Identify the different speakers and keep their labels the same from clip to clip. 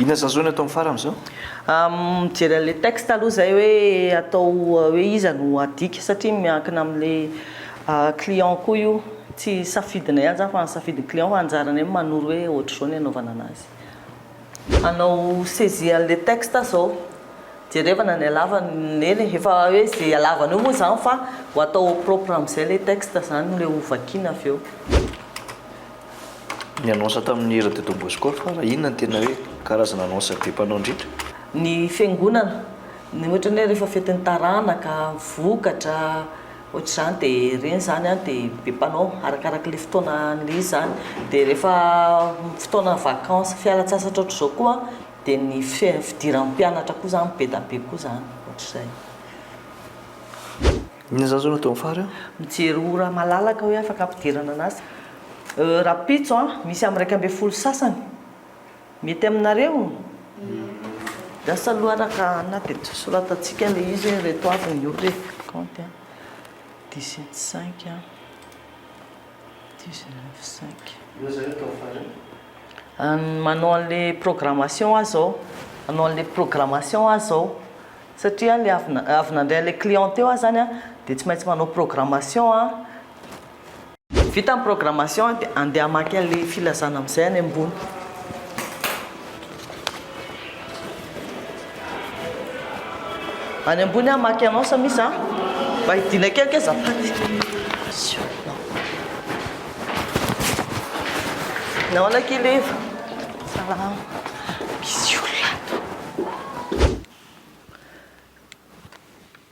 Speaker 1: Inona zany
Speaker 2: zao ny atao ny farany zao? Mijery
Speaker 1: an'ilay texte aloha izay hoe atao hoe iza no adika satria miankina amin'ilay client koa io, tsy safidinay ihany izany fa safidin'ny client fa anjaranay manoro hoe ohatr'izao ny anaovana an'azy. Anao saisie anle texte zao. Jerevana ny halavany eny e, efa hoe ze halavany eo moa zany fa ho atao au propre amzay le texte zany le ho vakiana avy eo.
Speaker 2: Ny annonce tamin'ny hira de Don Bosco fara inona no tena hoe karazana annonce be mpanao indrindra? Ny fiangonana,
Speaker 1: ny ohatrany hoe rehefa fetin'ny taranaka, vokatra, Ohatr'izany dia ireny izany an dia be mpanao arakaraka ilay fotoana an'ilay izy izany dia rehefa fotoana vacances fialantsasatra ohatr'izao koa dia ny fidiran'ny mpianatra koa izany be da be koa izany ohatr'izay.
Speaker 2: Inona izany zao no ataon'i Fary an? Mijery ora
Speaker 1: malalaka hoe afaka ampidirana anazy rahampitso an misy amin'ny iraika ambin'ny folo sasany. Mety aminareo? Lasa loharaka anaty eto. Soratantsika ilay izy hoe ireto avy ny ora e. Kaonty a. Dix et cinq, dix neuf, cinq. Io zay atao farany. An- manao an'le programmation aho zao. Manao an'le programmation aho zao. Satria le avy na- avy nandray an'le client teo aho zany a, dia tsy maintsy manao programmation aho. Vita ny programmation dia andeha hamaky an'ilay filazana amin'izay any ambony. Any ambony aho hamaky annonce misy an. Mba hidiana kely kay azafady. Nahoana kely Eva? Salama. Misy olona ato.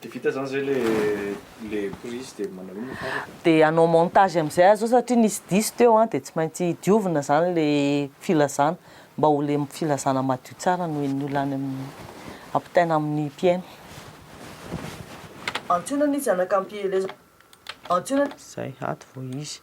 Speaker 1: De vita zany
Speaker 2: zay le le prise de manao inona farany? De hanao montage
Speaker 1: amizay aza satria nisy diso teo an, de tsy maintsy diovina zany le filazana mba ho le filazana madio tsara no henon'ny olona any amin'ny ampitaina amin'ny mpihaino. Antsoina ny zanaka ampielezana. Antsoina ny. Zay, ato vao izy.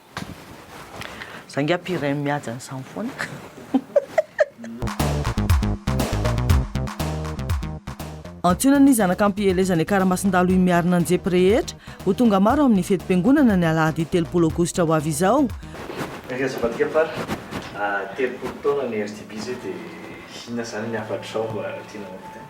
Speaker 1: Za ngiahy pire mihaja ny samy foana. Antsoina ny zanaka am-pielezana Ikaramasin-dalo Imiarina Anjepy rehetra ho tonga maro amin'ny fetim-piangonana ny alahady telopolo aogositra ho avy izao. Misaotra an'i Zafadika
Speaker 2: Par a, telopolo taona ny RTB zay dia inona zany ny hafatrao mba tianao hofidina?